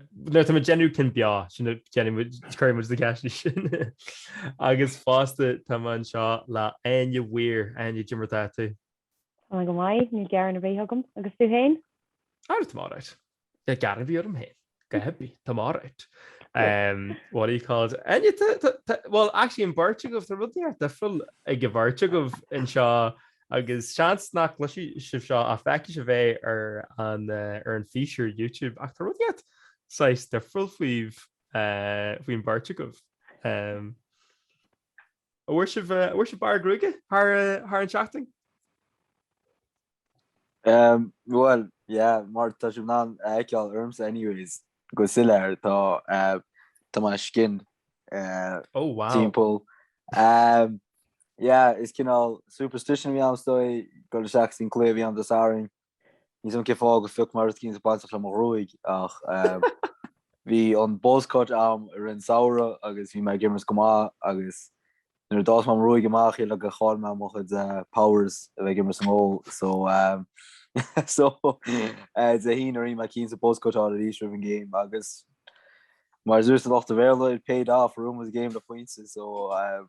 Nuair atá muid ag déanamh cinn bheo sin cuireann muid na ceisteanna sin. Agus fosta tá mé anseo le Áine Weir. Áine, cé mar atá tú? Go maith, níl gearán ar bith agam. Agus tú fhéin? Á, tá mé alright. Níl gearán ar bith orm fhéin. Go háithrid, tá mé alright. What do you call it? Áine, tá, tá, tá, bhuel, actually an bheirt agaibh, tá rud éicint difriúil ag an bheirt agaibh anseo agus seans nach gcloisfidh sibh seo ach feicfidh sibh é ar an físeán YouTube ach tá rud éicint saghas difriúil faoibh faoin mbeirt agaibh. A bhfuair sibh a bhfuair sibh bearradh gruaige thar thar an seachtain? Um, well, yeah, mar tá sibh in ann a fheiceáil ormsa anyways, go soiléir tá uh, tá mé skin uh, oh, wow. timpeall. Um, Yeah, is cineál superstition a bhí ann stoi, gur le seacs den cluiche a bhí a'm Dé Sathairn. Níl a fhios a'm cén fáth gur phioc mé ceann bainteach le mo ghruaig, ach ehm, bhí an buzz cut a'm i rith an samhradh agus bhí mé ag imirt go maith agus nuair a d'fhás mé mo ghruaig amach shíl mé gur chaill mé mo chuid eh, powers a bheith ag imirt san ól so ehm, so eh, Dé hAoine rinne mé cinneadh buzz cut a fháil arís roimh an game agus mar a dúirt an lucht Béarla it paid off, bhuaigh muid an game le pointe so ehm,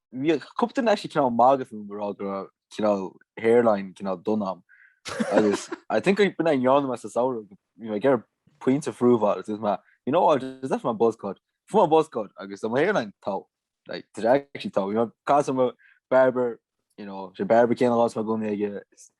bhí cúpla duine actually cineál magadh fúm go raibh go raibh cineál hairline cineál dona a'm. Agus I think I've been an John mas saoire you know, ag ar puinte frúmháil agus is me you know what is that my buzz cut fu my buzz cut agus mo hairline tá like did I actually tá you know cause mo barber you know sé barber céan lá me gona aige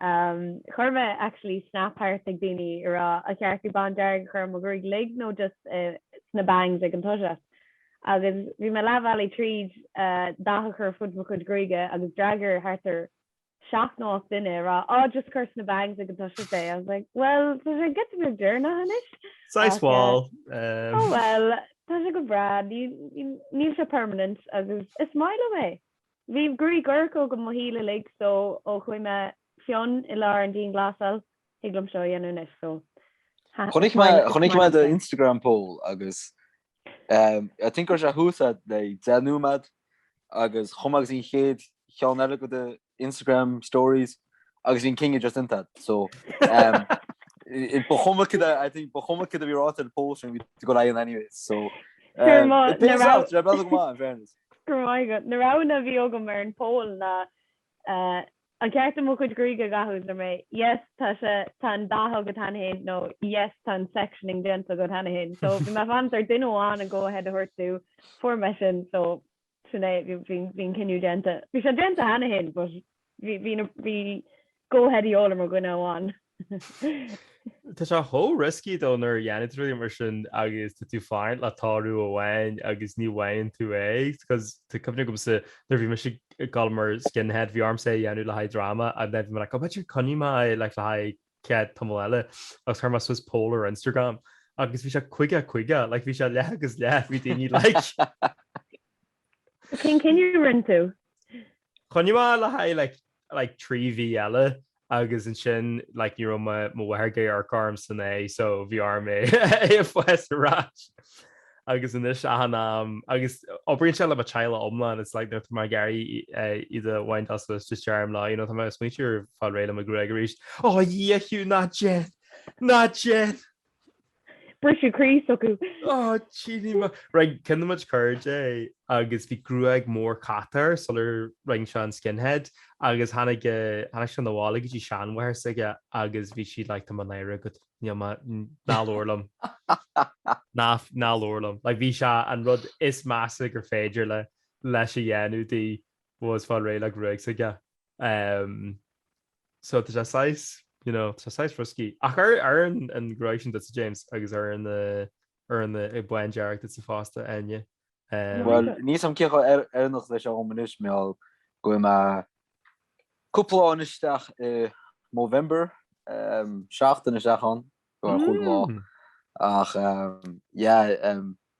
Chuir mé actually snap thart ag daoine ag rá an ceart dom bándearg a chur i mo ghruaig uilig nó just sna bangs ag an toiseacht. Agus bhí mé leathbhealaigh tríd dath a chur ar fud mo chuid gruaige agus d'fhreagair thart ar seacht nó ocht duine ag rá á just cur sna bangs ag an toiseacht é. I was like well tá sé giota beag deireanach anois. Saghas mhall. Oh well tá sé go breá níl sé permanent agus is maith liom é. Bhí gruaig dhorcha agam mo shaol uilig so ó chuaigh mé fionn i lár an dianghlasáil, thig liom seo a dhéanamh anois so ha Chonaic mé, chonaic mé do Instagram poll agus um, I think go raibh sé thuas a le deich nóiméad agus chuaigh mé chuig an chéad cheann eile de do Instagram stories agus bhí an cinneadh just déanta so um, i- ba chuma cid a I think ba chuma caidé a bhí ráite sa poll sin bhí tú ag gabháil leis anyway so Sure, um, má- it pays na rá- off, tá bealach go maith, in fairness. Go raibh maith agat. Na roghanna a bhí agam ar an poll ná An ceart dom mo chuid gruaige a dhathú? Scríobh mé Yes tá sé tá an dath agat cheana féin nó Yes tá an sectioning déanta agat cheana féin. So bhí mé ag fanacht ar duine amháin an go ahead a thabhairt domh. Fuair mé sin so sin é bhí an cinneadh déanta. Bhí sé déanta cheana féin but Bhí go head í ólaim ar dhuine amháin. Tá sé chomh risky though nuair a dhéanann tú rud mar sin agus tá tú ag fanacht le toradh amháin agus ní bhfaigheann tú é cos tá cuimhne agamsa nuair a bhí mise ag gabháil mar skinhead bhí ormsa é a dhéanamh le haghaidh dráma and then bhí mé like oh b'fhéidir coinneoidh mé é like le haghaidh cead tamall eile agus chuir mé suas poll ar Instagram agus bhí sé caoga caoga like bhí sé leath agus leath bhí daoine like Cén cinneadh a rinne tú? Choinnigh mé le haghaidh like like trí mhí eile agus ansin like ní raibh mo mo mháthair ag amharc orm san aghaidh so bhí orm é é a fhás ar ais agus anois achan am agus oibríonn sé le mo teaghlach iomlán it's like nuair atá mé ag iarraidh iad a bhaint as is just deirim leo you know tá mé ag smaointeamh ar fáil réidh le mo ghruaig arís, Ó Dhia Hugh ná déan! Ná déan! Briseadh croí s'acu. Oh Jeanny mac. Right, ceann de mo chuid cairde agus bhí gruaig mór catach sular rinn sé an skinhead agus tháinig tháinig sé 'na bhaile go dtí seanmháthair s'aige agus bhí sí like tá mé náirithe agat níl mé ná labhair liom ná ná labhair liom like bhí sé an rud is measa gur féidir le leis a dhéanamh di was fáil réidh le gruaig s'aige. Um, so tá sé saghas you know tá sé saghas risky ach oireann an gruaig sin duitse James agus oireann oireann an bándearg duitse fosta Áine eh. Bhuel níl a fhios agam cé chomh oiriúnach leis agam anois mar gheall go bhfuil mé cúpla lá anois isteach i Movember seachtain isteach ann ceathair cúig lá ach yeah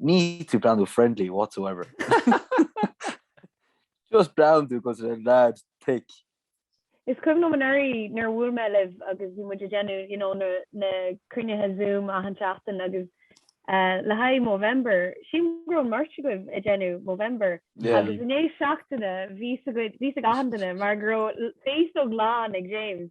Níl tú ag breathnú friendly whatsoever. Just breathnaíonn tú mar leaid thick. Is cuimhin liom anuraidh nuair a bhuail mé libh agus bhí muid ag déanamh you know, na cruinnithe Zoom achan seachtain agus le haghaidh Movember, sílim go raibh an bheirt agaibh ag déanamh Movember agus i ndiaidh seachtaine bhí a fhios ag achan duine mar go raibh féasóg lán ag James.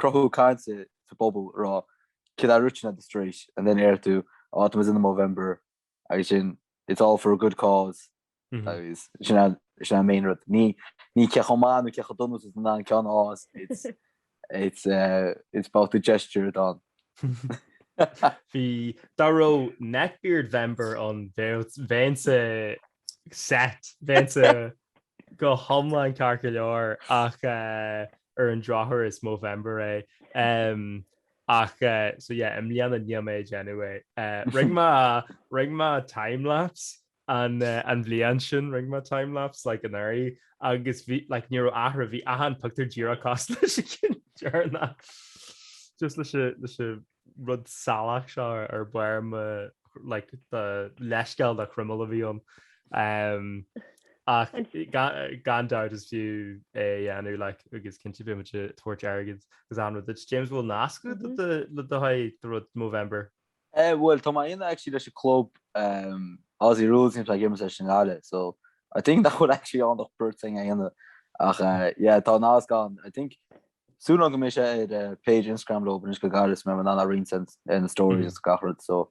Cruthú cainte sa phobal ag rá cad é an rud sin at the street and then deir tú ó tá mise ag déanamh Movember agus sin It's all for a good cause agus sin an sin an main rud. Ní ní cé chomh maith nó cé chomh dona is atá tú in ann ceann a fhás It's it's eh it's about the gesture it on. Bhí dá raibh Neckbeard Vember ann bheadh bheinnse set bheinnse go hiomlán ceart go leor ach eh ar an drochuair is Movember é ehm ach so yeah i mbliana níl mé ag déanamh é. Rinne mé rinne mé timelapse an an bhliain sin rinne mé timelapse like anuraidh agus bhí like ní raibh athrú bhí achan pictiúr díreach cosúil leis an gceann deireanach just leis an leis an rud salach seo ar bharr mo like the leithscéal de chroiméal a bhí ann um, ach gan dabht is fiú é a dhéanamh like, agus cinnte beidh muid ag tabhairt airgid agus an rud James bhfuil nasc agat mm -hmm. le haghaidh do rud Movember Eh, well, tá mé á dhéanamh actually leis an club um, Aussie Rules a bhímse ag imirt leis i nGaillimh, so I think nach bhfuil actually on the thing aine ach uh, yeah, tá nasc ann I think Sílim go mbeidh sé ar page Instagram leo anois go gairid, mé á roinnt ar na stories is gach rud so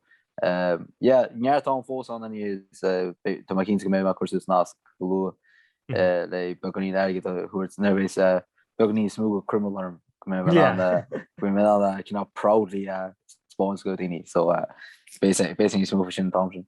yeah neart ann fós ann inniu is tá mé cinnte go mbeidh mé ag cur suas nasc go luath le beagáinín airgid a thabhairt nuair a bheas beagáinín níos mó de chroiméal orm go mbeidh mé in ann go mbeidh mé in ann cineál proudly a spáint do dhaoine so beidh níos mó faoi sin an t-am sin.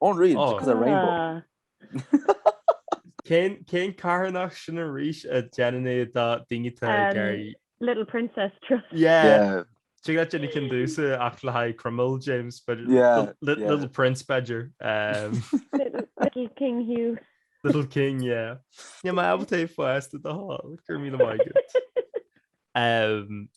Unreal, because of rainbow. Cén cén carthanacht sin arís a déanann é do daoine atá ag iarraidh? Little Princess Trust. Yeah. Yeah. Cé go raibh Jenny cinn dúsa ach le haghaidh croiméal James but Yeah, Li- yeah. Little Prince b'fheidir. Um, Little, little King Hugh. Little King, yeah. Níl mé ábalta é a fhás at all, go raibh míle maith agat. Um,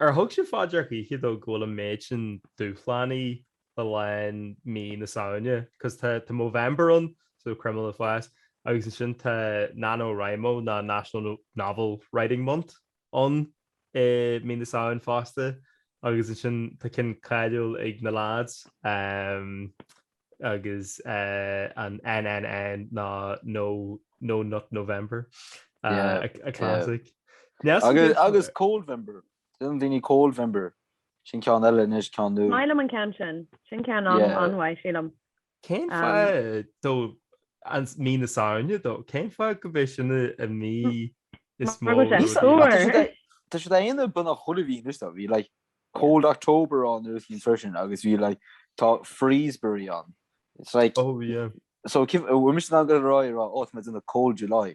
ar thug sibh faoi deara choíche though go bhfuil an méid sin dúshlánaí le linn mí na Samhna cos tá tá Movember ann so croiméal a fhás agus ansin tá NaNoWriMo nó National Novel Writing Month ann i mí na Samhna fosta agus ansin tá ceann cáiliúil ag na lads um, agus uh, an NNN nó No No Nut November uh, yeah, a, a classic yeah. agus agus Coldvember Déanann daoine Coldvember. Sin ceann eile anois, ceann nua. Maith liom an ceann sin. Sin ceann an-mhaith, sílim. Cén fáth though an mí na Samhna though? Cén fáth gurb é sin an mí is mó rud éigin? Tá siad á dhéanamh beagnach chuile mhí anois though. Bhí like cold October ann nuair a bhí an freisin agus bhí like tá Freezbury ann. It's like, so bhfuil mise in ann a rá ó tá muid in a cold July.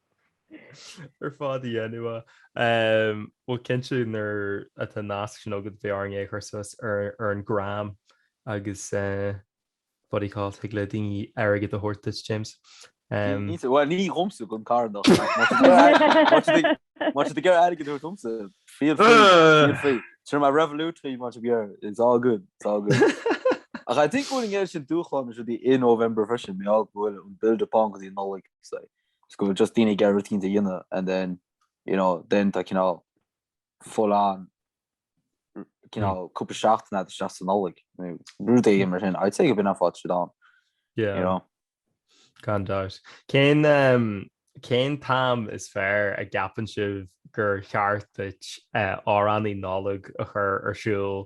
ar fad a dhéanamh bhuel cinnte nuair atá nasc sin agat beidh orainn é a chur suas ar an gram agus body call thig le daoine airgead a thabhairt duit James bhuel ní dhomsa don charthanacht má tá tú ag iarraidh airgead a thabhairt domsa feel free Sure my Revolut fee much of your it's all good it's all good I think going out dúshlán sin i November b'fhéidir mar gheall go bhfuil build up ann because you know like say is go bhfuil just daoine ag iarraidh rúitín a dhéanamh and then you know then tá cineál full on cineál cúpla seachtain ag dul isteach sa Nollaig nó rud éigin mar sin. I'd say gurb in an fáth tá siad ann. Yeah. You know? Gan doubt. Cén um, cén t-am is fearr a gceapann sibh gur cheart duit eh, amhránaí Nollag a chur ar siúl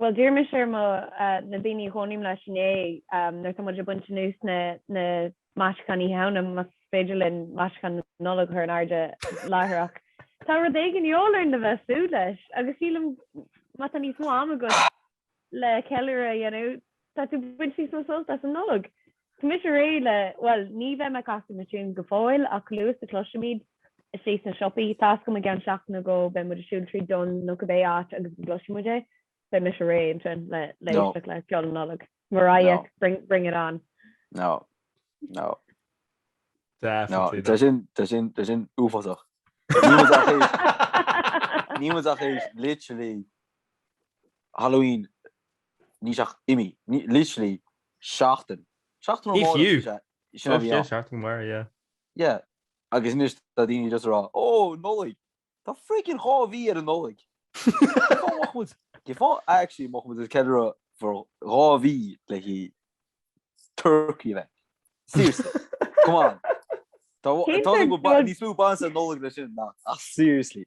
Bhuel, d'iarr mise ar mo na daoine a chónaím leis inné nuair atá muid ag baint anuas na na maisiúcháin Oíche Shamhna más féidir linn maisiúcháin na Nollag a chur in airde láithreach. Tá rud éigin de dhíobháil orainn le bheith ag súil leis agus sílim má tá níos mó ama agat le ceiliúradh a dhéanamh tá tú ag baint níos mó sult as an Nollaig. Tá mise réidh le. bhuel, ní bheidh mé ag casadh na tiúin go fóill ach chomh luath is a chloisfimid istigh sna siopaí. Tá a fhios agam i gceann seachtain nó dhó, beidh muid ag siúl tríd Dunnes nó cibé áit agus go gcloisfidh muid é. Beidh mise réidh ansin le éisteacht le ceol na Nollag. Mariah, bring it on. No. No. No. Tá sin, tá sin, tá sin uafásach. Níl muid ach tar éis literally Halloween níl sé ach imithe. Literally seachtain. Seachtain Ó Máille is ea é sin a bhí ann. seachtain go maire, yeah. Yeah. Agus anois tá daoine just ag rá, Ó, Nollaig! Tá frickin' dhá mhí ar an Nollaig! Cén fáth a mbeadh muid, cén fáth actually a mbeadh muid ag ceiliúradh for dhá mhí le haghaidh turcaí a bheith? Seriously. Come on. Tá, Cén tá faoin níos mó ag baint leis an Nollaig le sin ná, ach seriously.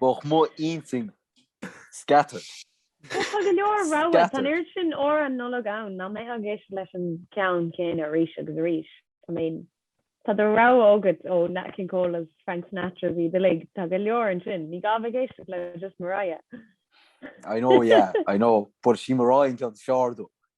Bheadh mo intinn scattered. Ach tá go leor rogha. Tá an oiread sin amhráin Nollag ann nach mbeidh ag éisteacht leis an gceann céanna arís agus arís. I mean, tá do rogha agat ó Nat King Cole agus Frank Sinatra is iad uilig. Tá go leor ansin. Ní gá bheith ag éisteacht le just Mariah. I know, yeah, I know. But is í Mariah an ceann is fearr dom.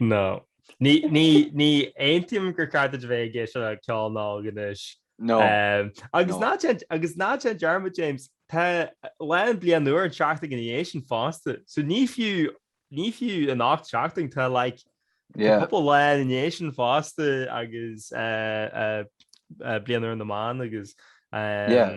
No. Ní aontaím gur ceart a bheith ag éisteacht le ceol Nollag anois. No. Um, agus no. ná agus ná déan dearmad James tá lá na bliana úire an tseachtain ina dhiaidh sin fosta. So ní fiú ní fiú an 8 seachtain tá like, yeah. cúpla lá ina dhiaidh sin fosta agus uh, uh, uh, bliain úr na mban agus um, yeah.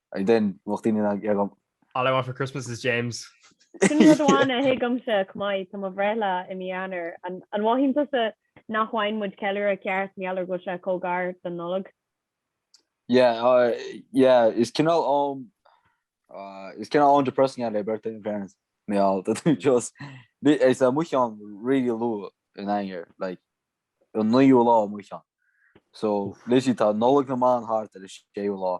And then, bheadh daoine ag iarraidh an. All I want for Christmas is James. Sin rud amháin a thuigimse, chomh maith, tá mo bhreithlá i mí Eanáir. An mothaíonn tusa nach bhfaigheann muid ceiliúradh ceart mar gheall ar go bhfuil sé chomh gar don Nollaig? Yeah, yeah, is cineál am, is cineál am depressing é le birthday in fairness, mar gheall, tá tú just, is é mo cheann really luath in Eanáir, like an naoú lá mo cheann. So literally tá Nollaig na mBan thart ar an séú lá,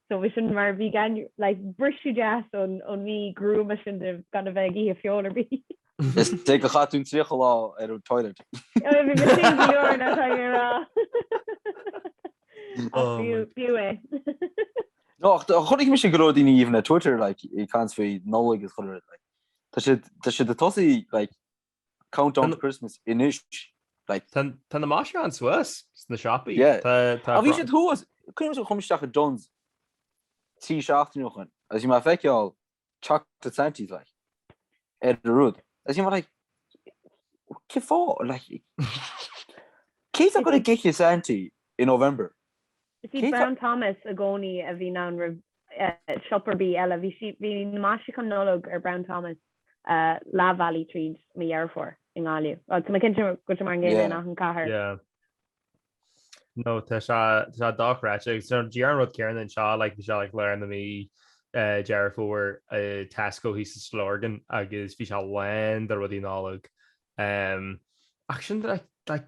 So bhí sin mar vegan like briseadh deas ón ón mí gruama sin de gan a bheith ag ithe feoil ar bith. Is é gur chaith tú 30 lá ar an toilet. Bhí mé saoil go leor ná tá mé a rá. Ach b'fhiú b'fhiú é. No ach chonaic mise go leor daoine even ar Twitter like ag caint faoi Nollaig is chuile rud like tá siad tá siad ag tosaí like Countdown to Christmas anois. Tá na maisiúcháin suas sna siopaí. Yeah bhí siad thuas, cuimhin liom chuaigh mé isteach i Dunnes trí seachtaine ó shoin agus bhí mé ag feiceáil Chocolate Santys like ar an rud agus bhí mé like cén fáth? Like cé atá ag dul ag ithe Santy i November? Is iad Brown Thomas i gcónaí a bhíonn ann roimh siopa ar bith eile. Bhí, bhí na maisiúcháin Nollag ar Brown Thomas leathbhealaigh tríd mí Dheireadh Fómhair i nGaillimh. Tá mé cinnte go bhfuil sé mar an gcéanna in achan cathair. No, tá sé, tá sé dochreidte. So, díreach an rud céanna anseo, like, bhí sé like lár na mí, Deireadh Fómhair, i Tesco thíos sa Stillorgan agus bhí sé lán de rudaí Nollag. Ach sin, like, like,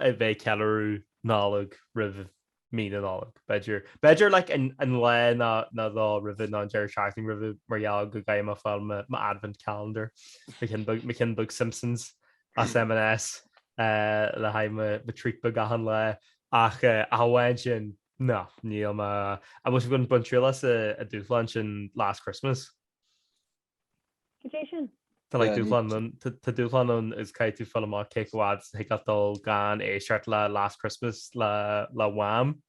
bheith ag ceiliúradh Nollag roimh mhí na Nollag, b'fhéidir. B'fhéidir like an an lá nó nó dhó roimhe nó an deireadh seachtaine roimhe mar gheall go gcaithfidh mé fáil mo mo advent calendar mo cheann beag mo cheann beag Simpsons as M&S eh le haghaidh mo mo treat beag achan lá ach eh ach amháin sin no níl mé I was gonna bain triail as an dúshlán sin Last Christmas. go dtí sin. Tá dúshlán ann agus caithfidh tú fáil amach cé chomh fhad is thig leat dul gan éisteacht le Last Christmas le Wham!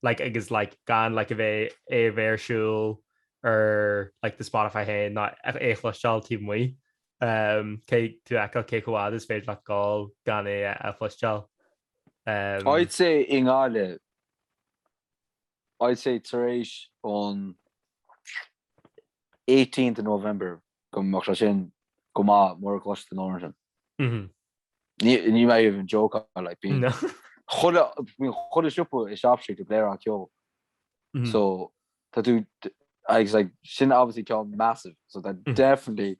like agus like gan like a bheith é a bheith ar siúl ar like do Spotify féin ná é a chloisteáil taobh amuigh. Caithfidh tú a fheiceáil cé chomh fhad is féidir leat dul gan é a chloisteáil. I'd say i nGaillimh. I'd say tar éis an 18th of November go mbeadh sé sin go maith mura gcloisfidh tú an amhrán sin. Níl mé even joke like bíonn No. chuile bíonn chuile siopa i Shop Street ag blareáil an ceol. Mhm. So tá tú agus like sin obviously ceol massive so tá definitely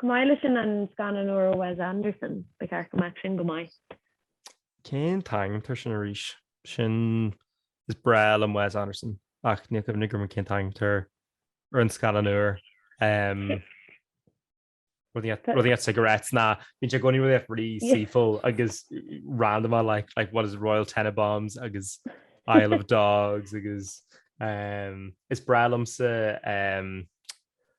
Chomh maith leis sin an scannán úr Wes Anderson, ba cheart go mbeadh sin go maith. Cén t-ainm atá air sin arís? Sin, is breá liom Wes Anderson ach níl cuimhne agam cén t-ainm atá ar an scannán úr. Rud inteacht, rud inteacht cigarettes, nó, bíonn sé i gcónaí rud inteacht really seafóideach agus randamach like, like what is Royal Tenenbaums agus Isle of Dogs agus is breá liomsa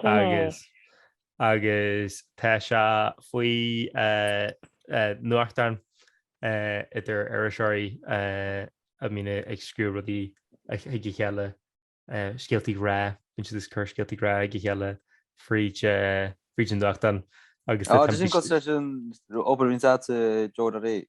Chine. Agus tá sé faoi nuachtán idir iriseoirí a mbíonn ag scríobh rudaí chuig a chéile, scéaltaí ghrá, bíonn siad ag cur scéaltaí grá chuig a chéile fríd an nuachtán agus tá. Sin cosúil leis an obair a bhíonns a'd sa Joe Doherty.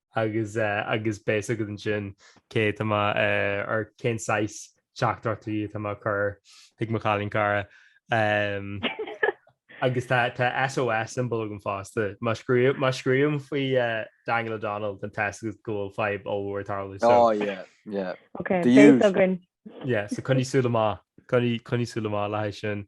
agus agus beidh a fhios agat ansin céard atá mé ag cén saghas teachtaireachtaí atá mé a chur chuig mo chailín cara. Agus tá SOS symbol agam fosta. Má scríobhaim faoi Daniel O'Donnell don téacs agus go bhfuil fadhb ollmhór ag tarlú so. Oh yeah, yeah. Ok, the usual. Béas againn. Yeah, so coinnigh súil amach, coinnigh súil amach le haghaidh sin.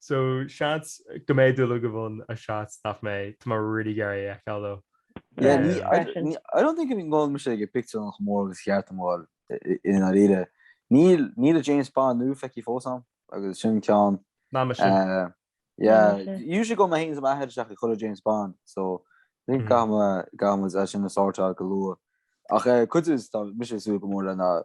So seans go mbeidh mé ag dul go Dune agus seans nach mbeidh, tá mé really ag iarraidh é a fheiceáil though. Yeah, Um, ní, I, freisin. ní, I don't think go mbím ag an bpictiúrlann chomh mór agus ba cheart dom a dháil i- i- i ndáiríre. Níl, níl an James Bond nua feicthe fós agam, agus sin ceann. Ná mise. Eh, Ná yeah, mise. usually go mbíonn mé féin is m'athair isteach i chuile James Bond, so ní Mhm. gá dom, eh, gá dom é sin a sort out go luath. Ach eh, cad é, tá mise ag súil go mór lena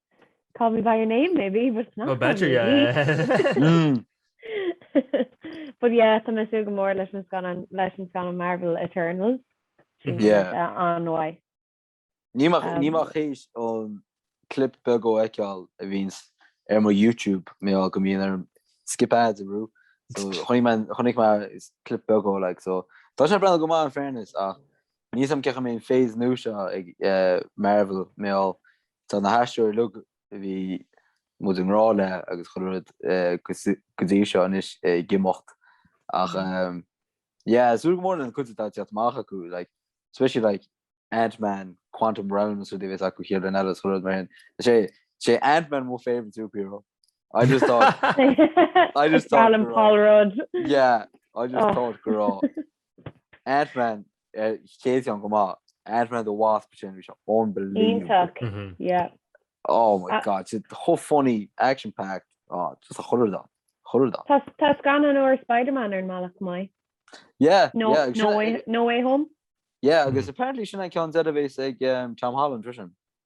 Call me by your name maybe but it's not call me by your name. But yeah tá mé ag súil go mór leis an scannán leis an scannán Marvel Eternals an-mhaith. Níl mé ach théis an clip beag a fheiceáil a bhíonn ar mo YouTube mar gheall go mbíonn orm skip ads a bhrú so chonaic mé clip beag dhó like so tá sé breathnú go maith in fairness ach níl a fhios agam an gcaithfidh mé an phase nua seo ag Marvel mar gheall Tá na haisteoirí uilig a bhí muid i ngrá leo agus chuile rud go dtí seo anois ag imeacht ach yeah súil go mór leis an gcuid atá ag teacht amach acu like especially like Ant-Man Quantum Realm is an rud a bheas acu thaobh le Dean eile is chuile rud mar sin. Tá sé Tá sé Ant-Man mo favourite superhero. I just thought I just thought álainn Paul Rudd. Yeah I just thought go raibh Ant-Man eh, chéad an go maith Ant-Man the Wasp sin bhí sé unbelievable. Ítach Mhm. yeah. Oh my Ah. god, it's a whole funny action packed. Oh, just a chur dá. Chur dá. Tá tá gan an or Spider-Man ar an malach mai. Yeah, No yeah, no sin- way no way home. yeah, agus apparently sin an cean devis ag um, Tom Holland Trishan.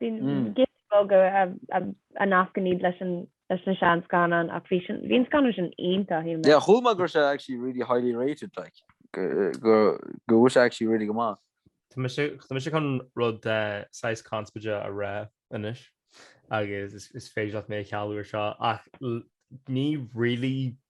Beaga a nascann iad leis na seanscannáin ach bhí an scannán sin iontach. Yeah chuala mé go raibh sé actually really highly rated like go bhfuil sé actually really go maith. Tá mise chun rud saghas conspóideach a rá anois agus is féidir leat mé a chealú air seo ach ní really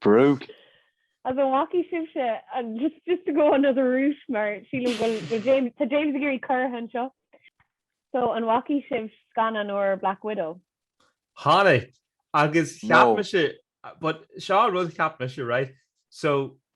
Bro. An bhfacaidh sibhse an, just just to go another route mar sílim go bhfuil James tá James ag iarraidh cur leis seo so an bhfacaidh sibh scannán úr Black Widow? Tháinig agus cheap mise but seo an rud a cheap mise right so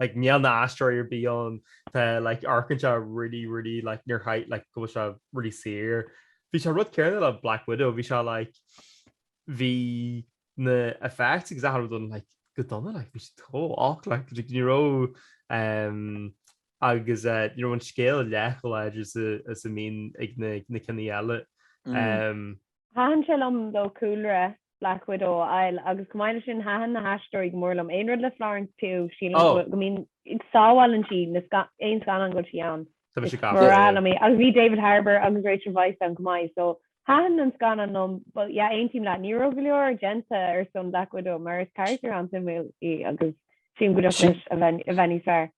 like níl aon aisteoir ar bith ann tá like amharcann sé really really like níor chaith like go bhfuil sé really saor bhí sé an rud céanna le Black Widow bhí sé like bhí na effects agus achan rud like go dona like bhí sé tó och like like ní raibh um, agus uh, ní raibh an scéal leath chomh láidir is a bhíonn ag na, na cinní eile mm. um, Thaitin sé liom dó cúlra Black Widow a fháil agus chomh maith leis sin thaitin na haisteoirí go mór liom. Aon rud le Florence Pugh, sílim go bhfuil, go mbíonn, go sábhálann sí na scan, aon scannán go bhfuil sí ann. Tá, bhí sé Is gafa, mura yeah. liom í. Agus bhí David Harbour agus Rachel Weisz ann chomh maith so thaitin an scannán liom but yeah aontaím leat, ní raibh go leor déanta ar son Black Widow mar is carachtar an-suimiúil í agus sílim go dtiocfadh leis a bheith, a bheith níos fearr.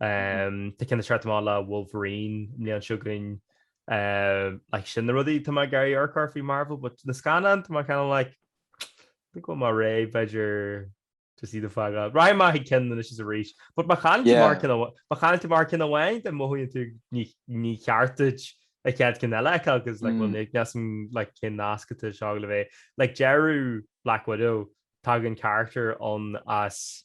Tá ceann ag teacht amach le Wolverine an bhliain seo chugainn like, sin na rudaí tá mé ag iarraidh amharc air faoi Marvel, but na scannáin tá mé kind of like think go bhfuil mé réidh b'fhéidir to see the fágáil. Rachaidh mé ag ceann anois is arís, but má chailleann tú Yeah. amach ar ceann amhá- má chailleann tú amach ar ceann amháin then mothaíonn tú ní ní cheart duit an chéad ceann eile because like Mm. bhfuil ní neas an like cineál nasctha suas le chéile like deireadh Black Widow tagann character ann as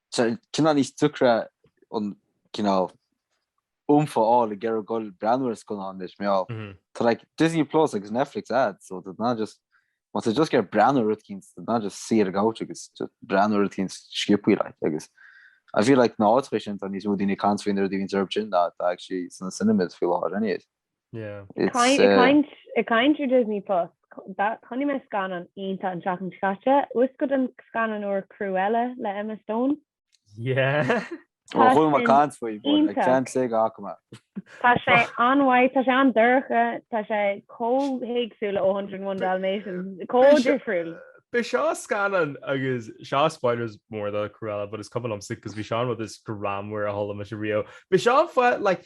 Tá sé cineál níos deacra an cineál oomph a fháil ag iarraidh dul ag breathnú ar scannáin anois mar tá like Disney Plus agus Netflix agat so tá tú in ann just má tá tú just ag iarraidh breathnú ar rud éicint tá tú in ann just saor ag abhairt agus just breathnú ar rud éicint sciobtha like agus I feel like na háiteacha sin tá níos mó daoine ag caint faoi na rudaí atá orthu sin ná atá actually sna cinemas faoi láthair anyways. Ag caint ar Disney Plus, chonaic mé scannán iontach an tseachtain seo caite. Uascail don scannán úr Cruella le Emma Stone. Ó chuala mé caint faoi, bhuel, I can't say go bhfaca mé. Tá sé an-mhaith, tá sé an-dorcha, tá sé chomh héagsúil le A Hundred and One Dalmatians, chomh difriúil. B'é seo an scannán agus seo spoilers mór do Cruella but is cuma liomsa 'cause bhí seo an rud is greannmhaire a chuala mise riamh. B'é seo an film like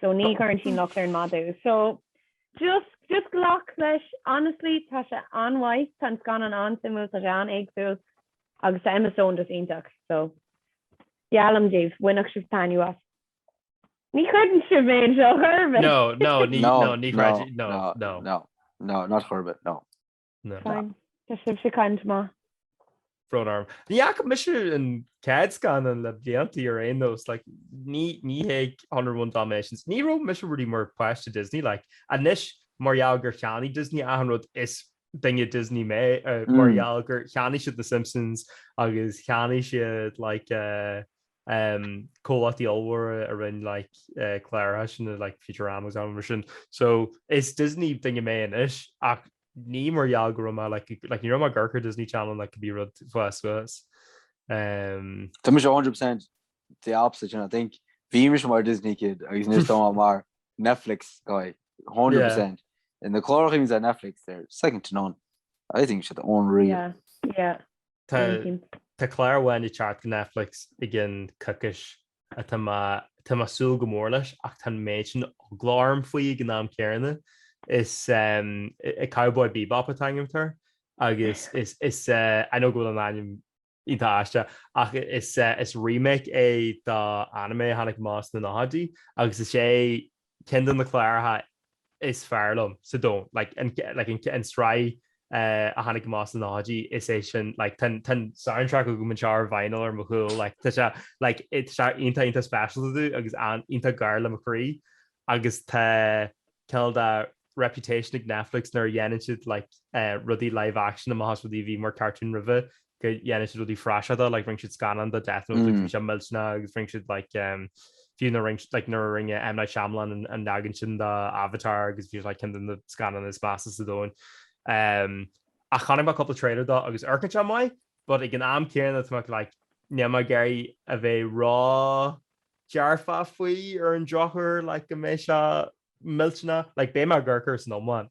so ní chuireann sí an locht ar an madadh so just just glac leis honestly tá sé an-mhaith tá an scannán an-suimiúil tá sé an-éagsúil agus tá Emma Stone just iontach so geallaim daoibh bhainfeadh sibh taitneamh as ní chreideann sibh mé anseo ar chor ar bith no no ní no ní chreid no no no no not ar chor ar bith no Na. Fine. Tá sibhse caint maith. Tá brón orm. Ní fhaca mise an chéad scannán le bliantaí ar aon nós like, ní ní héag Hundred and One Dalmatians. Ní raibh mise really mar páiste Disney like, anois mar gheall gur cheannaigh Disney achan rud is duine Disney mé uh, mar gheall gur cheannaigh siad na Simpsons agus cheannaigh siad like, uh, comhlachtaí ollmhóra a rinne cláracha like Futurama agus mar sin. So is Disney duine mé anois ach ní mar gheall go raibh mé like like ní raibh mé ag amharc ar Disney Channel like cibé rud ag fás suas. Um. Tá mise 100% the opposite you know I think bhí mise mar Disney kid agus anois tá mé mar Netflix guy 100%. Na cláracha a bhíonns ar Netflix they're second to none. I think they're unreal. Yeah yeah. Tá clár amháin ag teacht go Netflix i gcionn coicíse atá mé ag súil go mór leis ach tá an méid sin d'eagla orm faoi ag an am céanna. Is é Cowboy Bebop atá mar ainm air agus is I know go bhfuil an ainm iontach aisteach ach is remake é de anime a tháinig amach sna nóchaidí agus is é ceann de na cláracha is fearr liom ar domhan, like an tsraith a tháinig amach sna nóchaidí, is é sin like tá an soundtrack agam anseo ar vinyl ar mo chúl like tá sé like tá sé iontach iontach speisialta domh agus iontach gar le mo chroí agus tá cineál de reputation ag Netflix nuair a dhéanann siad like rudaí live action amach as rudaí a bhí mar cartoon roimhe go ndéanann siad praiseach de, like rinne siad scannán de Death Note agus bhí sé millteanach agus rinne siad like fiú nuair a rinne M. Night Shyamalan an leagan sin de Avatar agus bhí sé like ceann de na scannáin is measa ar domhan ach chonaic mé cúpla trailer dó agus amharcann sé maith but ag an am céanna tá mé like níl mé ag iarraidh a bheith ró dearfa faoi ar an drochuair like go mbeidh sé millteanach, like beidh mé ag amharc air ina iomláine.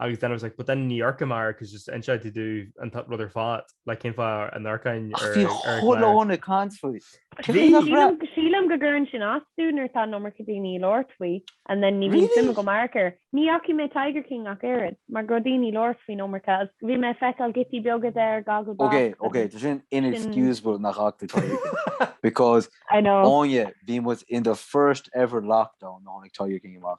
Agus then I was like, but then ní amharcaim air cos just instead they do an rud ar fad, like cén fáth a n-amharcfainn ar an gclár? Ach bhí chuile dhuine ag caint faoi. Bhí! Sílim go gcuireann sin as domh nuair atá an iomarca daoine ag labhairt faoi and then ní bhíonn suim agam amharc air. Ní fhacaidh mé Tiger King ach oiread, mar go raibh daoine ag labhairt faoi an iomarca agus bhí mé ag feiceáil giotaí beaga de ar Gogglebox agus sin. Ok, ok, tá sin inexcusable nach bhfaca tú Tiger King because, Áine, bhí muid in the first ever lockdown nuair a tháinig Tiger King amach.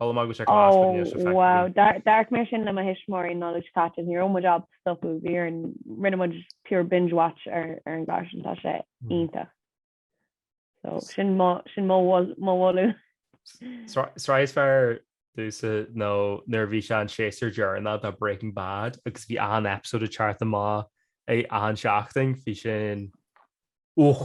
Molaim agam go sé cás go bhféadfadh sé feicthe go. Wow, d'amharc mé air sin le mo thuismitheoirí an Nollaig seo caite, ní raibh muid ábalta stopadh, bhí ar an, rinne muid pure binge watch ar an gclár sin, tá sé iontach. So, sin mo, sin mo mhol, mo mholadh. Sraith is fearr domhsa nó nuair a bhí sé an séasúr deireanach de Breaking Bad agus bhí achan episode ag teacht amach achan seachtain, bhí sin, uch,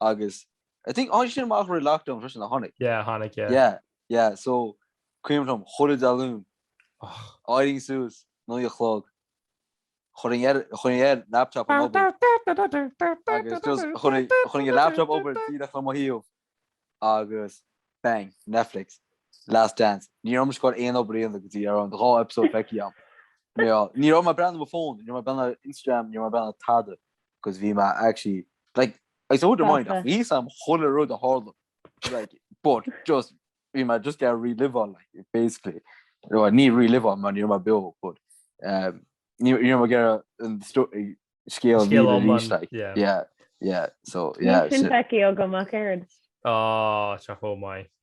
agus I think tháinig sin amach roimh lockdown freisin a tháinig. Yeah, tháinig, yeah. Yeah, yeah, so cuimhin liom chuile Luan d'éirínn suas naoi a chlog chuirinn air chuirinn air laptop na hoibre agus just chuirinn chuirinn an laptop obair díreach le mo thaobh agus bang Netflix Last Dance ní raibh mé ag goil aon obair a dhéanamh go dtí go raibh an dá episode feicthe agam ní raibh mé ag breathnú ar mo phone ní raibh mé ag breathnú ar Instagram ní raibh mé ag breathnú ar tada 'cause bhí mé actually like I saw the mind ach bhí sam chuile rud a tharla like but just bhí mé just ar relive like basically no, ní relive man ní mar beo but um, ní mar gur an scéal yeah yeah so yeah sin feicí agam a chéird á se chó mai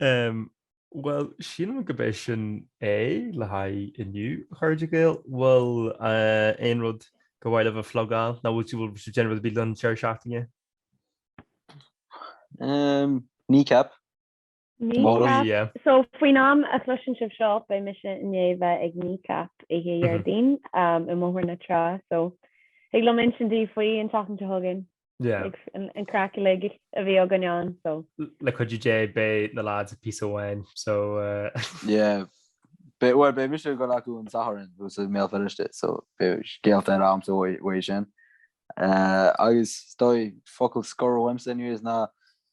Bhuel, sílim gurb é sin é le haghaidh inniu, a chairde Gael. Bhfuil aon rud gur mhaith libh a phlugáil? Nó bhfuil tú, bhfuil tú ag déanamh rud ar bith don deireadh seachtaine? Kneecap. Kneecap. So, faoin am a chloiseann sibh seo, beidh mise i ndiaidh a bheith ag Kneecap oíche Déardaoin i mBóthar na Trá. So, thig liom insint daoibh faoi an tseachtain seo chugainn. Le cuid de Dé beidh na lads i bpíosa amháin so. Yeah beidh mise ag dul chucu an Satharn ansin i mBéal Feirste so beidh scéalta a'msa uaidh sin. Agus 's dóigh focal scoir uaimse anyways ná